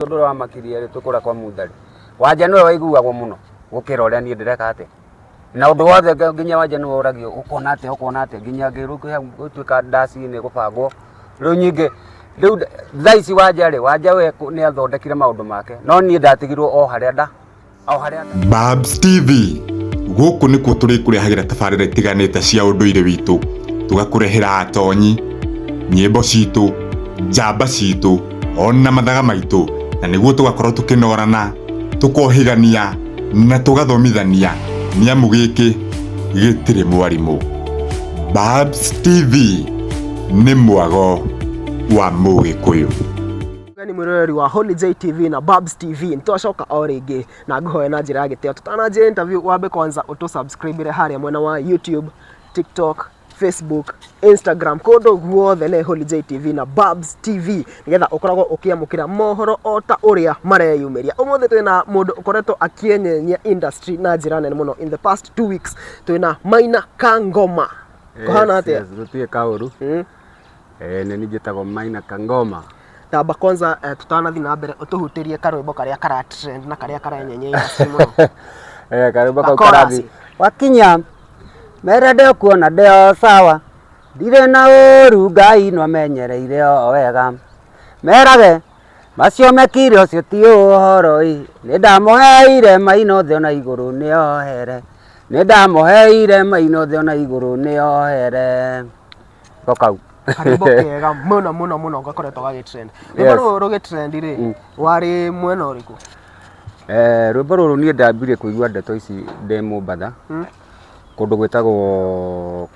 Ũcio ũndũ ũrĩa wamakirie rĩ, twĩkũrĩa kwa Mutha rĩ, Wanja nĩwe waiguagwo mũno gũkĩra ũrĩa niĩ ndĩreka atĩa. Na ũndũ wothe nga- nginya Wanja nĩwe ũragio ũkona atĩa ũkona atĩa nginya ngĩ- rĩu kĩha- gũtuĩka ndaci nĩ gũbangwo. Rĩu nyingĩ rĩu nda- thaa ici Wanja rĩ, Wanja we kũ- nĩ athondekire maũndũ make no niĩ ndatigirwo o harĩa nda aho harĩa Babs TV gũkũ nĩkuo tũrĩkũrehagĩra tabarĩra itiganĩte cia ũndũire witũ tũgakũrehera atonyi nyĩmbo citũ njamba citũ ona mathaga maitũ na nĩguo tũgakorwo tũkĩnorana tũkohĩgania na tũgathomithania nĩ amu gĩkĩ gĩtirĩ mwarimũ Babs TV nĩ mwago wa mũgĩkũyũ we nĩ mwĩroreri wa Holy J TV na Babs TV nĩ twacoka o rĩngĩ na ngũhoya na njĩra ya gĩtĩo tũtananjia interview wambe kwanza ũtũ subscribe ĩrĩa harĩa mwena wa YouTube TikTok Facebook Instagram kũndũ guothe nĩ Holy J TV na Babs TV nĩgetha ũkoragwo ũkĩamũkĩra mohoro o ta ũrĩa mareyumĩria ũmũthĩ twĩna mũndũ ũkoretwo akĩenyenyia industry na njĩra nene mũno in the past two weeks twĩna Maina Kangoma kũhana atĩa gũtirĩ kaũru Mm. Eh, nĩ njĩtagwo Maina Kangoma. Tamba kwanza eh, tutanathi na mbere utuhutirie karwimbo karia kara trend na karia karanyenyeira muno Eh, karwimbo kau Gakorasi. karathi. Wakinya mere ndekuona ndĩo sawa ndirĩ na ũru ngai no menyereire o wega merage macio mekire ũcio ti ũhoro ĩ nĩ ndamũheire maino thĩ ona igũrũ nĩohere nĩ ndamũheire maino thĩ ona igũrũ nĩohere to kau karimbo kega mũno mũno mũno gakoretwo gagĩtrend Yes. rĩmwe rũrũ rũgĩtrend rĩ Mm. warĩ mwena ũrĩkũ Eh, rwĩmbo rũrũ niĩ ndambirie kũigua ndeto ici ndĩ mũmbatha Mm. kũndũ gwĩtagwo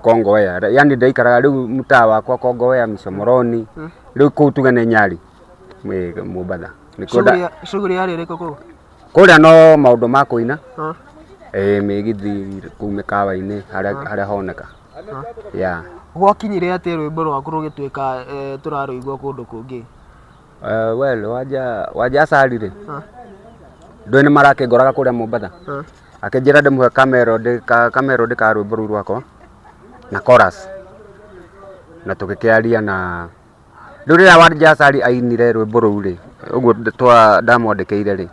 kongowea yani ndaikaraga rĩu mtaa wakwa kongowea micomoroni Mm. rĩu kũu tuge nĩ nyari Mwĩ- mũmbatha Nĩkuo nda- Shughuli- shughuli yarĩ ĩrĩkũ kũu kũrĩa no maũndũ ma kũina Ah. eh, mĩgithi kũu mĩkawa-inĩ harĩa harĩa honeka yeah. gwakinyire atĩa rwĩmbo rwaku rũgĩtuĩka eh, tũrarũigua kũndũ kũngĩ Eh, well wanja wanja acarire Ha. ndwĩ nĩ marakĩngoraga kũrĩa mombatha Ha. akĩnjĩra ndĩmũhe kamero ndĩ- ka- kamero ndĩka rwĩmbo rũu rwakwa na chorus na tũgĩkĩaria na Rĩu rĩrĩa Wanjasari ainire rwĩmbo rũu-rĩ, ũguo twa ndamwandĩkĩire-rĩ,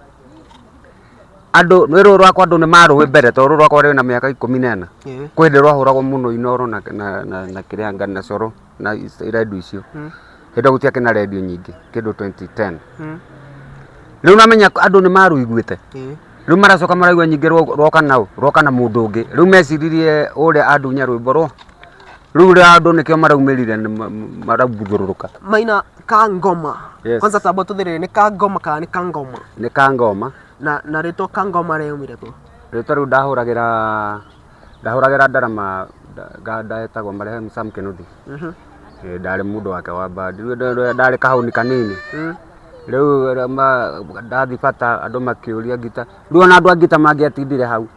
andũ nĩ rũrũ rwakwa andũ nĩ marũĩ mbere tondũ rũrũ rwakwa rwĩna mĩaka ikũmi na ĩna. Kwĩ hĩndĩ rwahũragwo mũno inoro na na na na kĩrĩa nga na coro na redio icio. Hĩndĩ ĩyo gũtiakĩrĩ na redio nyingĩ kĩndũ twenty ten. Rĩu nĩwamenya andũ nĩ marũiguĩte. Rĩu maracoka maraigua ningĩ rwo- rwoka na ũ? Rwoka na mũndũ ũngĩ. Rĩu meciririe ũrĩa andunya rwĩmbo rwo Rĩu rĩa andũ nĩkĩo maraumĩrire nĩ ma- ma- marabuthũrũrũka maina ka ngoma Yes. kwanza tamba tũthĩrĩre nĩ ka ngoma kana nĩ ka ngoma nĩ ka ngoma na na rĩtwa ka ngoma rĩaumire kũ rĩtwa rĩu ndahũragĩra ndahũragĩra ndarama nda- nga- ndetagwo marehemu sam kĩnuthi Mhm. Eh, ndarĩ mũndũ wake wa mbandi Rĩu ndĩ- ndĩ- ndarĩ kahũni kanini Mm. rĩu ra- ma- ndathi bata andũ makĩũria ngita rĩu ona andũ a ngita mangĩatindire hau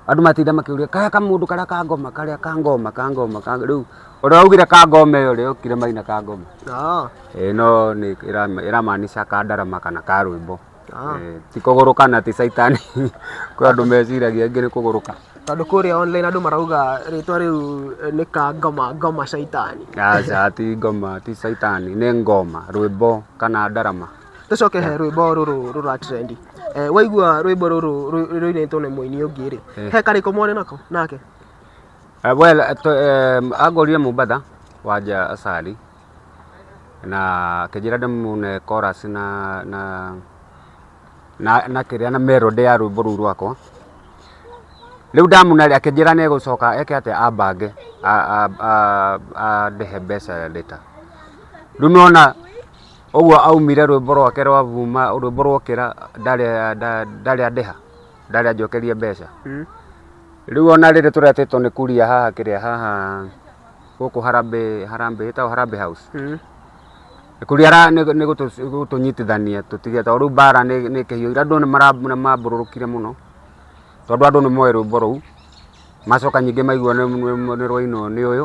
andũ matinda makĩũria kaya kamũndũ karĩa ka ngoma karĩa ka ngoma ka ngoma ka ngoma." rĩu ũrĩa waugire ka ngoma ĩyo rĩ okire maina ka ngoma Ah, Eh, no nĩ ĩra- ĩramaanisha ka ndarama kana ka rwĩmbo Ah. Eh, ti kũgũrũka na ti caitani kwĩ andũ meciragia angĩ nĩ kũgũrũka tondũ kũrĩa online andũ marauga rĩtwa rĩu eh, nĩ ka ngoma ngoma caitani aca ti ngoma ti caitani nĩ ngoma rwĩmbo kana ndarama tũcoke he rwĩmbo rũrũ rũra trend eh, waigua rwĩmbo rũrũ rũ- rũinĩtwo nĩ mũini ũngĩ rĩ Eh. he karĩko mwarĩ nako nake Eh, well, eh, to- eh, angorire Mombasa wanja Asali na akĩnjĩra ndĩmune chorus na na na na kĩrĩa na melody ya rwĩmbo rũu rwakwa rĩu ndamuna rĩ akĩnjĩra nĩ gũcoka eke atĩ ambange a- a- a- andĩhe mbeca later rĩu nona Ũguo aumire rwĩmbo rwake rwa vuma, rwĩmbo rwa ũkĩra ndarĩ ndarĩ andĩha, ndarĩ anjokerie mbeca. Rĩu ona rĩrĩ tũretĩtwo nĩ kuria haha kĩrĩa haha gũkũ Harambee, Harambee ĩtagwo Harambee House. Nĩ kuria ara nĩ gũtũnyitithania tũtige tondũ rĩu mbara nĩ nĩ ĩkĩhiũ. Ira andũ nĩ nĩ mambũrũrũkire mũno, tondũ andũ nĩ moĩ rwĩmbo rũu, macoka ningĩ maigua nĩ nĩ rwainwo nĩ ũyũ.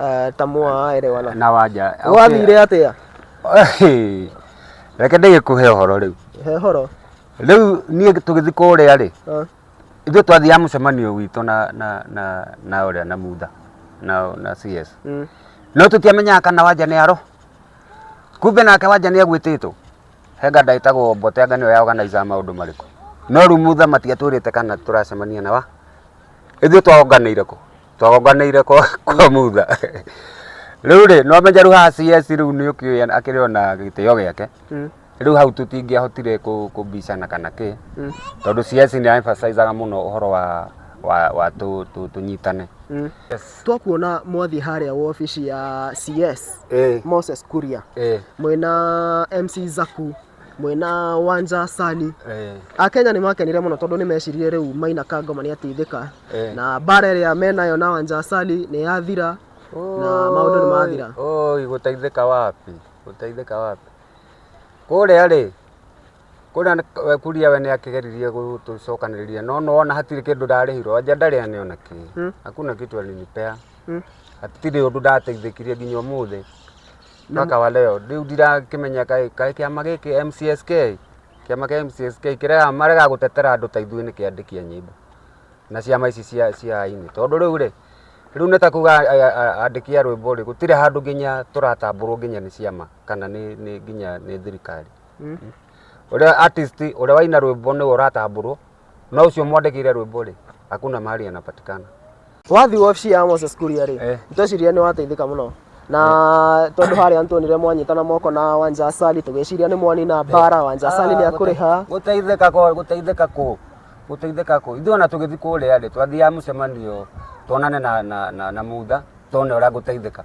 Eh, ta mwaerewana na wanja gwathire atia Hey, reke ndĩgĩkũhe ũhoro rĩu he horo rĩu niĩ tũgĩthiĩ kũrĩa rĩ Ah, ithuĩ twathiaga mũcemanio witũ na na na na ũrĩa na mutha na na cs mm. no tũtiamenyaga kana wanja nĩ aro kumbe nake wanja nĩ agwĩtĩtwo henga ndagĩtagwo mbote anga nĩyo ya organizer maũndũ marĩkũ no rĩu mutha matiatwĩrĩte kana tũracemania na wa ithuĩ twaonganĩire kũ twagonganĩire kwa kwa mutha rĩu rĩ nĩ wamenya rĩu haha CS rĩu nĩ ũkĩũĩ akĩrĩ ona gĩtĩo gĩake rĩu hau tũtingĩahotire kũ- kũbicana kana kĩ tondũ CS nĩ emphasizaga mũno ũhoro wa wa wa tũ- tũ- tũnyitane Yes. twakuona mwathiĩ harĩa wobici ya cs Ĩĩ, moses kuria ĩĩ. mwĩna mc zaku mwena wanja sani Eh, akenya nä makenire må no tondå nä mecirire rä u maina kangoma nä ateithä Eh. na mbara ä rä a menayo na wanja sali nä yathira na maũndũ nĩ mathira. Oi, gũteithĩka wapi? Gũteithĩka wapi? Kũrĩa rĩ, kũrĩa we kuria we nĩ akĩgeririe gũtũcokanĩrĩria no no wona hatirĩ kĩndũ ndarĩhirwo anja ndarĩ ane ona kĩ Mm. hakuna kitu alinipea Mm. hatirĩ ũndũ ndateithĩkirie nginya ũmũthĩ mpaka wa leo riu ndirakimenya kaĩ kaĩ kiama giki mcsk kiama kia mcsk kirega marega gutetera andu ta ithuĩ nikiandiki a nyimbo na ciama ici cia cia aini tondu riu ri riu ni ta kuga a- a- a- andiki a rwimbo ri gutire handu nginya turatamburwo nginya ni ciama kana ni ni nginya ni thirikari uria artist uria waina rwimbo niwe uratambũrwo na ucio mwandikire rwimbo ri hakuna mahali anapatikana wathi wabici ya Moses Kuria rĩ Eh. tweciria nĩ wateithĩka mũno na tondũ harĩa ntuonire mwanyitana moko na Wanja Asali tũgĩciria nĩ mwanina mbara Wanja Asali nĩ akũrĩha guteithika ko guteithika ko guteithika ko ithuĩ ona tũgĩthi kũrĩa rĩ twathiaga mũcemanio tuonane na na na, na mutha tone ũrĩa guteithika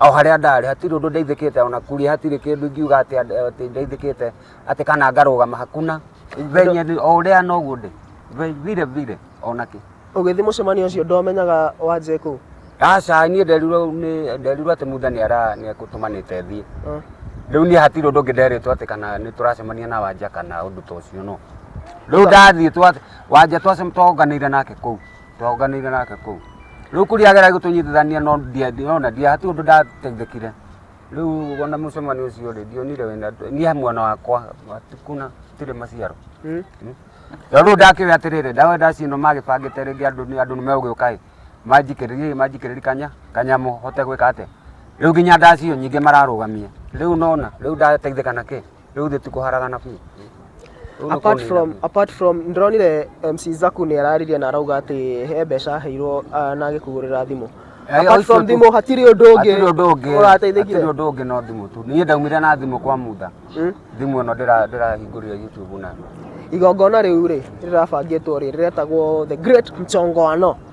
o harĩa ndarĩ hatirĩ ũndũ ndeithĩkĩte ona kuria hatirĩ kĩndũ ingiuga atĩ and- eh, atĩ ndeithĩkĩte atĩ kana ngarũgama hakuna venye nĩ- o ũrĩa noguo ndĩ Ve- vile vile ona kĩ ũgĩthiĩ mũcemanio ũcio ndomenyaga wanje kũu aca niĩ nderirwo nĩ- nderirwo atĩ mutha nĩ ara nĩ ekũtũmanĩte thiĩ Ah. rĩu niĩ hatirĩ ũndũ ũngĩ nderĩtwo atĩ kana nĩ tũracemania na wanja kana ũndũ ta ũcio no rĩu ndathiĩ twa- wanja twacem- twaũnganĩire nake kũu twaũnganĩire nake kũu rĩu kũrĩa agera gũtũnyitithania no ndiona ndiahati ũndũ ndateithĩkire rĩu ona mũcemanio ũcio rĩ ndionire wĩna niĩ mwana wakwa matikuna tirĩ maciaro hmm? Hmm? rĩu rĩu ndakĩwe atĩrĩrĩ ndawe ndacino magĩbangĩte rĩngĩ andũ andũ nĩ megũgĩũka ĩ manjikĩrĩrie manjikĩrĩrie kanya kanyamũ hote gwĩka atĩa rĩu nginya ndacio nyingĩ mararũgamia rĩu nona rĩu ndateithĩka na kĩ Rĩu thĩ tikũharagana biũ. Rĩu nĩ apart kũnina from biũ. apart from ndĩronire MC Zaku nĩ araririe na arauga atĩ he mbeca aheirwo ah, na agĩkugũrĩra thimũ Eh, apart ũcio from tu- thimũ hatirĩ ũndũ ũngĩ Hatirĩ ũndũ ũngĩ. Hatirĩ ũrateithĩkire ũndũ ũngĩ no thimũ tu. Niĩ ndaumire na thimũ kwa mutha. Mm. Thimũ ĩno ndĩra- ndĩrahingũrire YouTube na igongona rĩu rĩ rĩrabangĩtwo rĩ rĩretagwo the great mchongoano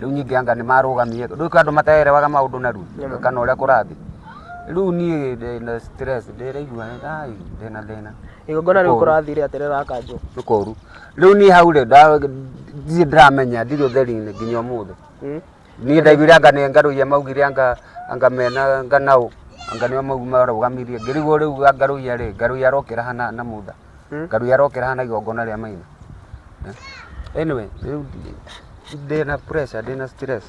rĩu nyingĩ anga nĩ marũgamie rĩu andũ materewaga maũndũ na ruu kana ũrĩa kũrathiĩ rĩu niĩ ndĩna stress ndĩraigua ai ndĩna thĩna igongona rĩu kũrathire atĩ rĩrakanjwo nĩ kũru rĩu niĩ hau rĩ ndirĩ ndĩramenya ndirĩ ũtheri-inĩ nginya ũmũthĩ hmm? niĩ ndaiguire anga nĩ ngarũiye maugire anga anga mena nganaũ anga nĩo mau marũgamirie ngĩrigwo rĩu ngarũiya rĩ ngarũiya arokĩra hana na mutha Hmm? Karuya arokera hana igongona rĩa maina. Eh? Anyway, rĩu ndi- ndĩna pressure, ndĩna stress.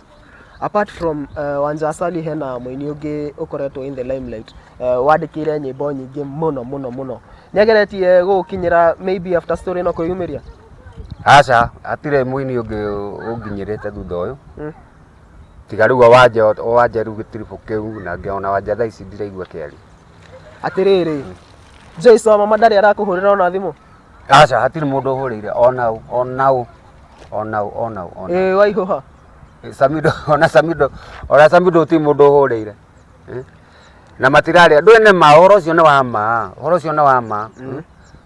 apart from uh, wanja asali hena mũini ũngĩ ũkoretwo in the limelight uh, wandĩkĩire nyĩmbo nyingĩ mũno mũno mũno nĩageretie gũgũkinyĩra maybe after story no kwĩyumĩria Aca, hatirĩ mũini ũngĩ ũnginyĩrĩte thutha ũyũ. Mm. Tiga rĩu wanja wanja rĩu gĩtiribũ kĩu na ngĩona wanja thaa ici ndiraigua kĩario. Atĩrĩrĩ, Joyce wa mama ndarĩ arakũhũrĩra ona thimũ? Aca, hatirĩ mũndũ ũhũrĩire ona ũ, ona ũ, ona ũ, ona ũ, ona ũ. Ĩĩ waihũha. Eh, Samido, ona Samido, ona Samido ti mũndũ ũhũrĩire. Eh? Na matirarĩa, ndwene ma, ũhoro ũcio nĩ wa ma, ũhoro ũcio nĩ wa ma. Mm.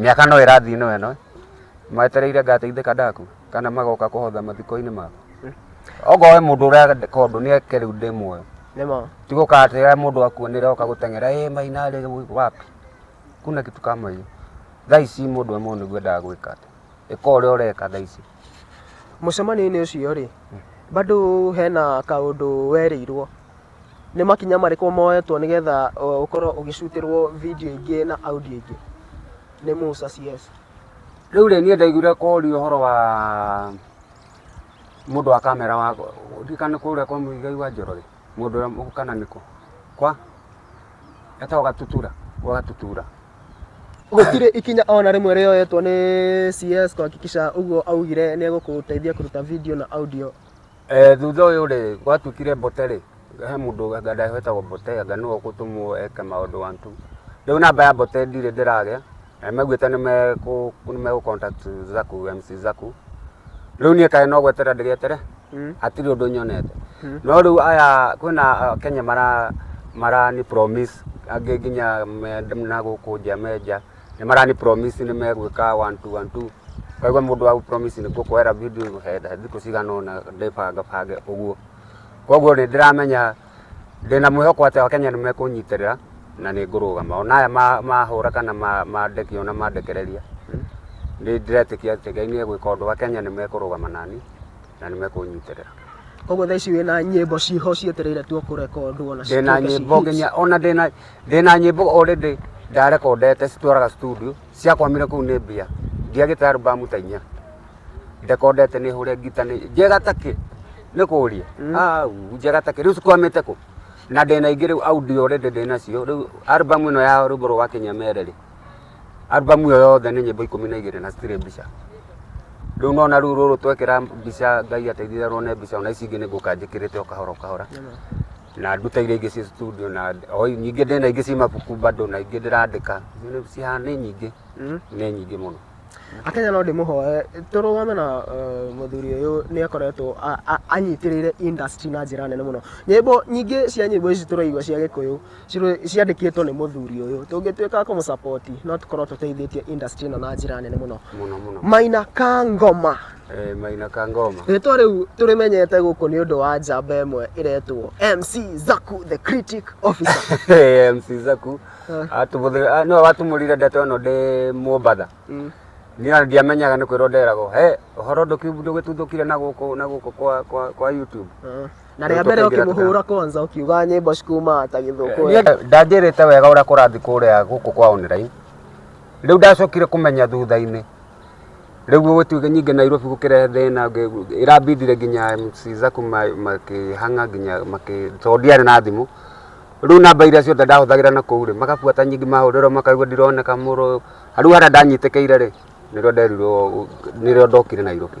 Mĩaka no ĩrathiĩ no ĩno metereire ngateithĩka ndaku kana magoka kũhotha mathiko-inĩ maku okorwo he mũndũ ũreka ũndũ nĩ eke rĩu ndĩ muoyo Nĩma. ti gũkaatĩra mũndũ akuonĩre oka gũteng'era ĩ maina rĩ wĩ wapi kuna kitu kama hiyo thaa ici mũndũ e mũndũ ngwendaga gwĩka atĩ ĩka ũrĩa ũreka thaa ici Mũcemanio-inĩ ũcio rĩ, bado hena kaũndũ werĩirwo. nĩ makinya marĩkũ moetwo nĩ getha ũkorwo ũgĩcutĩrwo video ingĩ na audio ingĩ nĩ Musa CS? Rĩu rĩ niĩ ndaiguire kũũrio ũhoro wa mũndũ wa kamera wa ndikana kũrĩa kwa mũigai wa njoro rĩ mũndũ ũrĩa mũku- kana nĩkũ kwa etagwo gatutura gwa gatutura Gũtirĩ ikinya ona rĩmwe rĩoetwo nĩ CS kũhakikisha ũguo augire nĩ egũkũteithia kũruta video na audio Eh, thutha ũyũ rĩ gwatuĩkire mbote rĩ he mũndũ nganda wetagwo mbote anga nĩwe ũgũtũmwo eke maũndũ one two rĩu namba ya mbote ndirĩ ndĩragĩa na maiguĩte nĩ mekũ- nĩ megũ contact zaku mc zaku rĩu niĩ kaĩ no gweterera ndĩgetere hatirĩ ũndũ nyonete no rĩu aya kwĩna ah, kenya mara mara ni promise angĩ nginya me- na gũkũ nja menja nĩ marani promise nĩ megwĩka one two one two, ũkaigua mũndũ agũ promise nĩ ngũkũhera video he thikũ cigana ũna ndĩbanga bange ũguo. Koguo nĩ ndĩramenya ndĩna mwĩhoko atĩ Akenya nĩ mekũnyitĩrĩra na nĩ ngũrũgama. Ona aya mahũra kana mandekia ona mandekereria, nĩ ndĩretĩkia atĩ Ngai nĩ egwĩka ũndũ, Akenya nĩ mekũrũgama nani na nĩ mekũnyitĩrĩra. Koguo thaa ici wĩna nyĩmbo ciĩho cietereire tu o kũrekondwo na cicoke ci hit? Ndĩna nyĩmbo nginya ona ndĩna... Ndĩna nyĩmbo already ndarekondete citwaraga studio, ciakwamire kũu nĩ mbia. Ndiagĩte albamu ta inya ndekondete nĩ hũre ngita nĩ njega ta kĩ nĩ kũria au njega ta kĩ rĩu cikwamĩte kũ na ndĩna ingĩ rĩu audio already ndĩnacio rĩu albamu ĩno ya rwĩmbo rwa Wakinya Mere rĩ albamu ĩyo yothe nĩ nyĩmbo ikũmi na igĩrĩ na citirĩ mbica rĩu nona rĩu rũrũ twekĩra mbica Ngai ateithie rwone mbica ona ici ingĩ nĩ ngũka njĩkĩrĩte o kahora o kahora na nduta iria ingĩ ciĩ studio na o nyingĩ ndĩ na ingĩ ci mabuku bado na ingĩ ndĩrandĩka Nĩ- ciha nĩ nyingĩ Mhm. nĩ nyingĩ mũno akenya no ndĩmũhoe tũrũgame na eh, mũthuri ũyũ nĩ akoretwo a- a- anyitĩrĩire industry na njĩra nene mũno nyĩmbo nyingĩ cia nyĩmbo ici tũraigua cia gĩkũyũ cirĩ- ciandĩkĩtwo nĩ mũthuri ũyũ tũngĩtuĩka kũmũsapoti no tũkorwo tũteithĩtie industry ĩno na njĩra nene mũno mũno mũno maina ka ngoma Eh, Maina Kangoma. Rĩtwa rĩu tũrĩmenyete gũkũ nĩ ũndũ wa njamba ĩmwe ĩretwo MC Zaku the Critic Officer. Eh, MC Zaku. Ah. Atũbũthĩ, ah, no watũmũrire ndeto ĩno ndĩ Mombatha. Mm. Niĩ ndiamenyaga nĩ kwĩrwo nderagwo. He, ũhoro ndũkiu- ndũgĩtuthũkire na gũkũ na gũkũ kwa kwa kwa YouTube. Ah. Na Rĩu rĩa mbere tũkaingĩra ũkĩmũhũra kwanza ũkiuga nyĩmbo cikuuma ta gĩthũkũ. Niĩ ndanjĩrĩte wega ũrĩa kũrathiĩ kũrĩa gũkũ kwa online. Rĩu ndacokire kũmenya thutha-inĩ Rĩu gũgĩtuĩka nyingĩ Nairobi gũkĩrehe thĩna ngĩ- ĩrabindire nginya MC Zaku ma- makĩhang'a nginya makĩ- tondũ ndiarĩ na thimũ rĩu namba iria ciothe ndahũthagĩra na kũu rĩ magabuata nyingĩ mahũrĩrwo makaigua ndironeka mũrũ rĩu harĩa ndanyitĩkĩire rĩ nĩrĩo nderirwo nĩrĩo ndokire Nairobi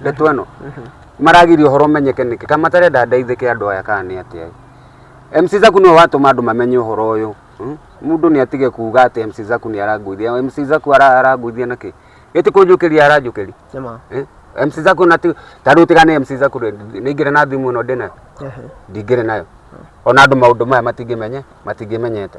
ndeto ĩno maragiria ũhoro ũmenyeke nĩkĩ kana matarenda ndeithĩke andũ aya kana nĩ atĩa MC Zaku nĩwe watũma andũ mamenye ũhoro ũyũ Hmm? mũndũ nĩ atige kuuga atĩ MC Zaku nĩ arangũithia MC Zaku ara- arangũithia nakĩ ĩti kũnjũkĩria aranjũkĩria Nĩma. Eh? MC Zaku na ti- ta rĩu tiga nĩ MC Zaku rĩ, nĩingĩre na thimũ ĩno ndĩ nayo Ehe. ndingĩrĩ nayo ona andũ maũndũ maya matingĩmenye matingĩmenyete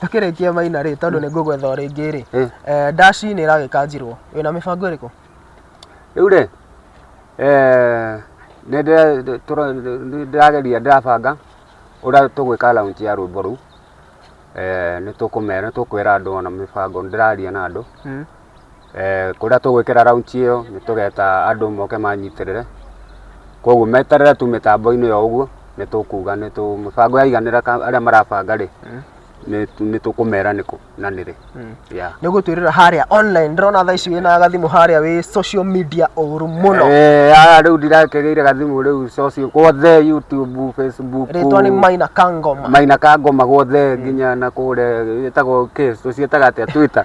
tũkĩrĩkie maina rĩ tondũ nĩ ngũgwetha o rĩngĩ rĩ Eh. eh, ndaci nĩ ĩragĩkanjirwo wĩna mĩbango ĩrĩkũ rĩu rĩ eh, nĩ ndĩra- tũra- nĩ ndĩrageria ndĩrabanga ũrĩa tũgwĩka launch ya rwĩmbo rũu Eh, nĩ tũkũmera nĩ tũkwĩra andũ ona mĩbango nĩ ndĩraria na andũ eh, kũrĩa tũgwĩkĩra raunji ĩyo nĩ tũgeta andũ moke manyitĩrĩre koguo meterere tu mĩtambo-inĩ ya ũguo nĩ tũkuga nĩ tũ mĩbango yaiganĩra ka- arĩa marabanga rĩ nĩ tu- nĩ tũkũmera nĩ kũ na nĩ rĩ Yeah. nä gå twä rä ra harä a online ndärona tha ici wä na gathimå harä a wä social media å ru må no Eh, aya rĩu ndirakegeire gathimũ rĩu socio guothe youtube facebook rä twa nä maina kangoma maina ka ngoma guothe nginya na kũrĩa ĩtagwo kĩ tũciĩtaga atĩa twitter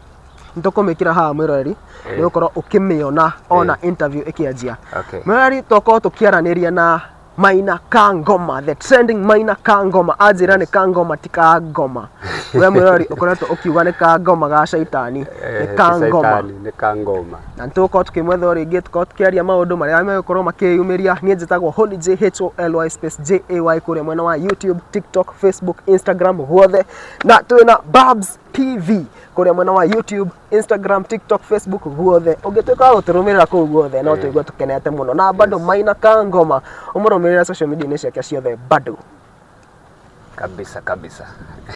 nĩ tũkũmĩkĩra haha mwĩroreri Eh. nĩ gũkorwo ũkĩmĩona ona interview ĩkĩanjia Okay. mwĩroreri twakorwo tũkĩaranĩria na maina kangoma the trending maina kangoma anjĩra nĩ kangoma ti kangoma we mwĩroreri ũkoretwo ũkiuga nĩ kangoma ga caitani Eh, nĩ kangoma Shaitani, nĩ kangoma na nĩ tũgũkorwo tũkĩmwetha o rĩngĩ tũkorwo tũkĩaria maũndũ marĩa megũkorwo makĩyumĩria niĩ njĩtagwo holy j h o l y space j a y kũrĩa mwena wa youtube tiktok facebook instagram guothe na twĩna babs TV kũrĩa mwena wa YouTube, Instagram, TikTok, Facebook guothe ũngĩtuĩka wa gũtũrũmĩrĩra kũu guothe no tũigua tũkenete mũno na bado Maina Kangoma ũmũrũmĩrĩre social media-inĩ ciake ciothe bado kabisa kabisa